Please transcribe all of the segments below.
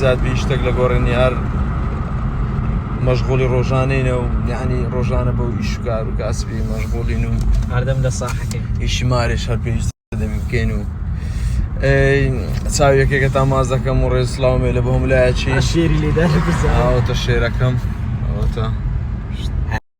زیاد بی شتێک لە گۆڕێنی هەر مەشغولی ڕۆژانەینە و یعنی ڕۆژانە بەو ئیشکار و کاسبی مەشغولین و هەردەم لە ساحەکەی ئیشیمارێش هەر پێویست دەبی بکەین و چاویەکێکە تا ماز دەکەم و ڕێز سلااومێ لە بۆم لایەکی شێری لێداوتە شێرەکەم ئەوتە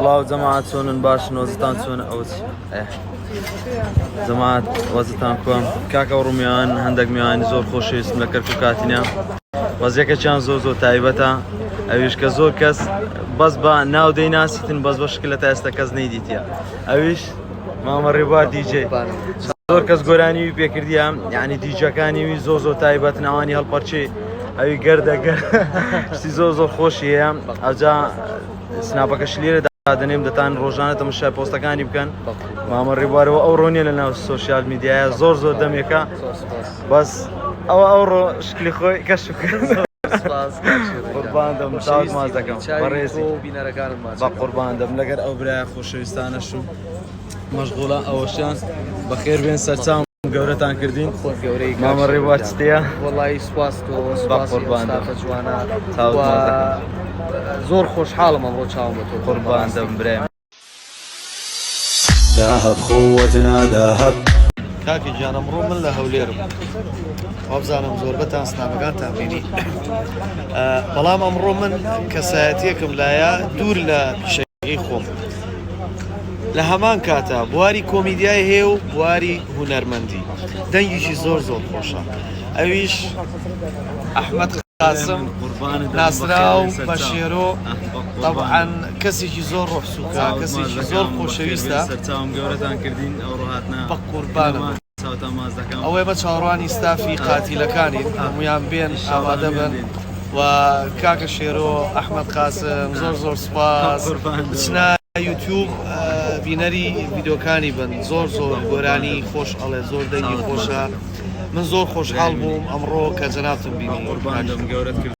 سڵاو جەماعەت چۆنن باشن وەزتان چۆنە ئەوە چیە جەماعەت وەزتان کوام کاکە و ڕومیان هەندێک میوانی زۆر خۆشەویستم لە کەرکک کاتینە وەزیەکەچیان زۆر زۆر تایبەتە ئەویش کە زۆر کەس بەس بە ناو دەی ناسیتن بەس بە شکل لە تا ئێستا کەس نەیدیتە ئەویش مامە ڕێبوار دیجێ زۆر کەس گۆرانی وی پێکردیە یعنی دیجەکانی وی زۆ زۆ تایبەت ناوانی هەڵپەرچی ئەوی گەردەگە شتی زۆر زۆر خۆشیە ئەجا سناپەکەش لێرە دادەنێم دەتان ڕۆژانە تەمەشای پۆستەکانی بکەن مامە ڕێبوارەوە ئەو ڕۆنیە لە ناو سوۆسیال میدیایە زۆر زۆر دەمێکە بەس ئەوە ئەو ڕۆ شکلی خۆی کەش قوربان دەم چاوت ماز دەکەم بەڕێزی بە قوربان دەم لەگەر ئەو برای خۆشەویستانە شوو مەشغوڵە ئەوەشیان بەخێر بێن سەرچاو گەورەتان کردین خۆت گەورەی مامە ڕێواچتەیە وڵی سواست جوانە زۆر خۆشحاڵم ئەمڕۆ چاوم بە تۆ قوربان دەم برێ داهب خۆت ناداهب کاکی گیانەمڕۆ من لە هەولێرم وابزانم زۆربەتان سنامەکانتان بینی بەڵام ئەمڕۆ من کەسایەتیەکم لایە دوور لە پیشەکەی خۆم لە هەمان کاتا بواری کۆمیدیای هەیە و بواری هونەرمەندی دەنگیشی زۆر زۆر خۆشە ئەویش ئەحمد قاسم ناسراو بە شێرۆ طبعاً کەسێکی زۆر ڕۆحسوکە کەسێکی زۆر خۆشەویستە سەرچاوم گەورەتان کردین ئەو ڕۆهاتنا بە قوربانەوە ئەوەی بە چاوەڕوانی ستافی قاتیلەکانین هەمویان بێن ئامادە بن و کاکە شێرۆ ئەحمد قاسم زۆر زۆر سپاس بچنا یوتیوب بینەری ویدۆکانی بن زۆر زۆر گۆرانی خۆش ئەڵێ زۆر دەنگی خۆشە من زۆر خۆشحاڵ بووم ئەمڕۆ کە جەناتم بینی قوربان گەورەت کرد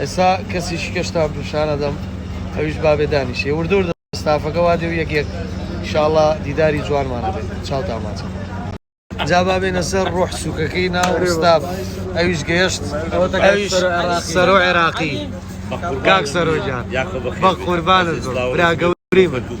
ئێستا کەسی شکەشتا پیشانەدەم ئەویش بابێ دانیشێ وردور ستافەکە وا دێ و یەک یەک شاڵە دیداری جوانمانە بێت چاوتان ماچە جا بابێنە سەر ڕۆح سوکەکەی ناو ستاف ئەویش گەیشت سەرۆ عێراقی کاک سەرۆجان بە قوربانە براگە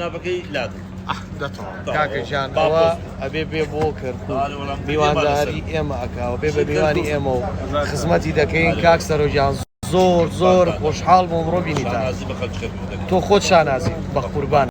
سناپەکەی لادن کاکە جان ئەوە ئەبێ بێ بۆ کرد میوانداری ئێمە ئەکاوە بێ بە میوانی ئێمە و خزمەتی دەکەین کاک سەرۆجان زۆر زۆر خۆشحاڵ بۆ ڕۆ بینی تۆ خۆت شانازی بە قوربان